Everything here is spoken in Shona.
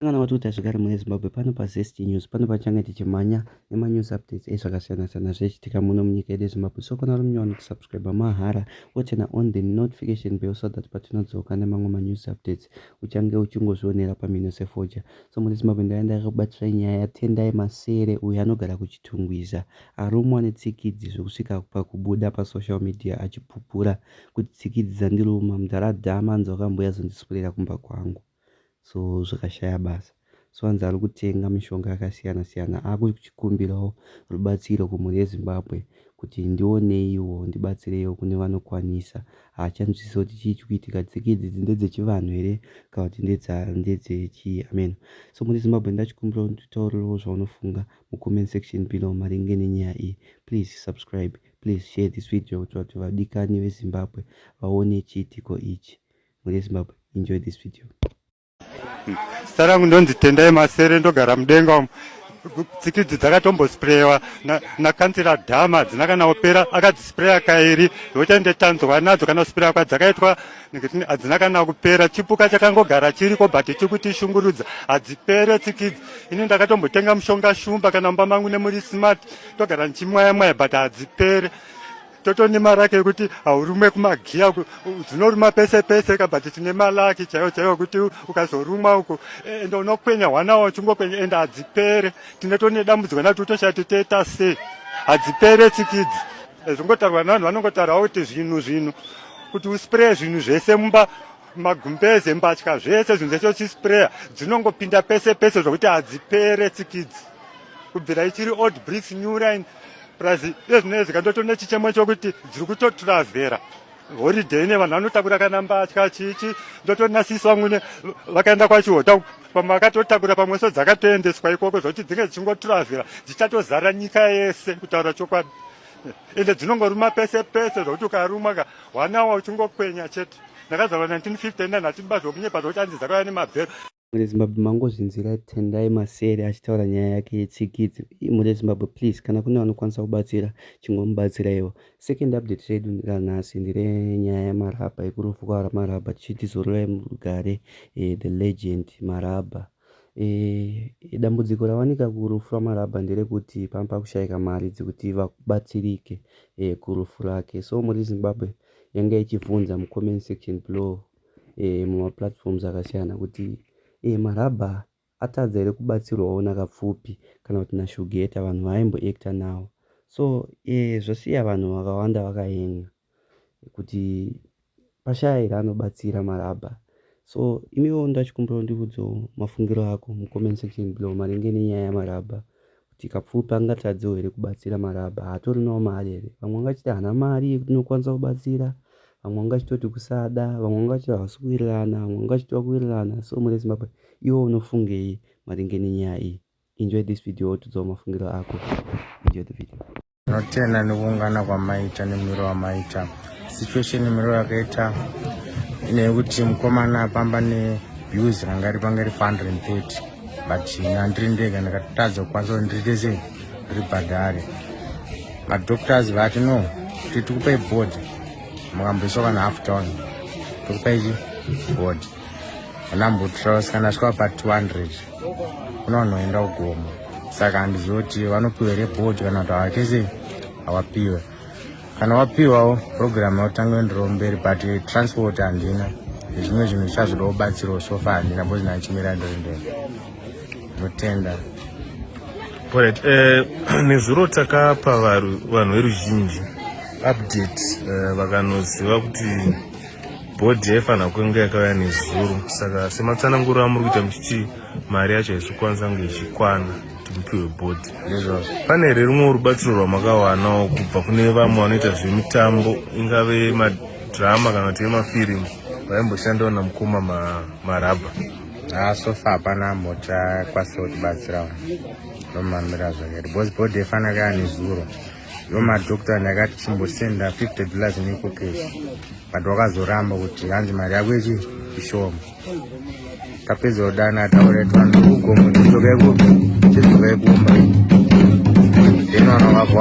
Kana wati kuti zvigare mune Zimbabwe pano pa Zest News pano pachange tichimhanya nema news updates ezvakasiyana siyana zvichitika muno munyika yedu Zimbabwe so kana uri munyowani kusubscribe mahara wochena on the notification bell so that patinodzoka nemamwe ma news updates uchange uchingozvionera pamino sefoja so mune Zimbabwe ndaya ndakakubatira nyaya yatendai masere uyo anogara kuchitungwiza arumwa netsikidzi zvekusvika pakubuda pa social media achipupura kuti tsikidzi dzandiruma mdara dhama anzi wakambuya zondiswurira kumba kwangu so zvakashaya basa so anzi ari kutenga mishonga yakasiyana siyana akuchikumbirawo rubatsiro kumhuri yezimbabwe kuti ndioneiwo ndibatsireiwo kune vanokwanisa haachanzwisisa kuti chii chikuitika tsika idzi dzi ndedzechivanhu here kana kuti ndedzechii amen so mhuri yezimbabwe ndachikumbirawo nditaurirwo zvaunofunga mucomment section below maringe nenyaya iyi please subscribe please share this video kuti vati vadikani vezimbabwe vaone chiitiko ichi mhuri yezimbabwe enjoy this video zita rangu ndonzi tendai masere ndogara mudenga umu tsikidzi dzakatombosprewa nakansira dhama hadzina kana opera akadzispreya kairi zvokuti ndetanzwa nadzo kana kuspreya kwadzakaitwa nekuti hadzina kana kupera chipuka chakangogara chiriko but chiri kuti shungurudza hadzipere tsikidzi ini ndakatombotenga mushonga shumba kana mumba mangu nemuri smart togara ndichimwayamwaya but hadzipere Toto nemaraki ekuti haurume kumagiya dzinoruma pese pese ka but tine malaki chaiwo chaiwo kuti ukazorumwa uko e, ende unokwenya hwana wachingokwenya ende hadzipere tine tone dambudziko nato toshaya titoita sei hadzipere tsikidzi e, zvingotarwa navanhu vanongotaurawo kuti zvinhu zvinhu kuti uspray zvinhu zvese mumba magumbeze mbatya zvese zvinhu zvese uchisprayer dzinongopinda pese pese zvokuti hadzipere tsikidzi kubvira ichiri old bricks new line plus ezvinezvi kandotona chichemo chokuti dziri kutoturavhera holiday ine vanhu vanotakura kana mbatya chichi ndotonasisa vamwene vakaenda kwachihota pamwe vakatotakura pamwe so dzakatoendeswa ikoko zvokuti dzinge dzichingoturavhera dzichatozara nyika yese kutaura chokwadi ende dzinongoruma pese pese zvokuti ukarumwa ka hwanawa uchingokwenya chete ndakazvarwa 1959 hatibazi wokunyepa zvokuti anzi dzakauya nemabhero Mhuri yeZimbabwe mangozvinzwira Tendai Masere achitaura nyaya yake yetsikidzi. Mhuri yeZimbabwe please kana kune vanokwanisa kubatsira chingomubatsiraiwo. Second update redu ranhasi ndire nyaya yaMarabha yekurufu kwaara Marabha tichiti zororai murugare eh, the legend Marabha. Eh, dambudziko rawanika kurufu rwaMarabha nderekuti panga pakushaika mari dzekuti vabatsirike eh, kurufu rake. So mhuri yeZimbabwe yanga ichivhunza mucomment section below. e, mumaplatforms akasiyana kuti e, marabha atadza here kubatsirwawo nakapfupi kana kuti nashugeta vanhu vaaimboacta nawo so e, zvosiya vanhu vakawanda vakahenga kuti pashaya here anobatsira marabha so imiwo ndachikumbirawo ndiudzewo mafungiro ako mucomment section below maringe nenyaya yamarabha Chikapfupi angatadzewo here kubatsira marabha haatorinawo mari here vamwe vangachiti hana mari yekuti inokwanisa kubatsira vamwe vangachitoti kusada vamwe vangachiti havasi kuwirirana vamwe vangachiti vakuwirirana so mune zimbabwe iwo unofungei maringe nenyaya iyi enjoy this video wotiudzawo mafungiro ako enjoy the video Tinotenda nekuungana kwamaita nemiro wamaita situation miro yakaita nekuti mukomana apamba nebuse ranga ri panga ri 430 but nandiri ndega ndakatadza kukwanisa kuti ndiriite sei ribhadhare madoctors vati no tiri tikupai board mukamboiswa kana half town tikupai chi board anambutraus kana asvika pa 200 unonoenda ugomo saka handizivi kuti vanopiwa here bhodi kana kuti hawatese hawapiwe kana wapiwawo program yotanga ndiro mberi but transport handina zvimwe zvinhu zvichazvoda kubatsirwa sofa handina bcoz ndachimira ndiri ndeni ndotenda orit eh, nezuro takapa vanhu veruzhinji update eh, vakanoziva kuti bhodhi yaifanira kunge yakauya nezuro saka sematsananguro amuri kuita muchiti mari yacho haisi kukwanisa kunge ichikwana kuti mupiwe bhodhi nezvazvo pane here rumwe rubatsiro rwamakawanawo kubva kune vamwe vanoita zvemitambo ingave madhirama kana kuti emafirimu vaimboshandawo namukoma marabha ah, sofa hapana mota kwasiro kutibatsirawo nomamira zvakati bhozi bhodhi yaifanira kaya nezuro Yo madoctor ndakati chimbosenda 50 dollars niko cash but wakazoramba kuti hanzi mari yako ichi ishoma tapedza kudana taure twana kugomo tizokai kupi tizokai kumba then vana vavo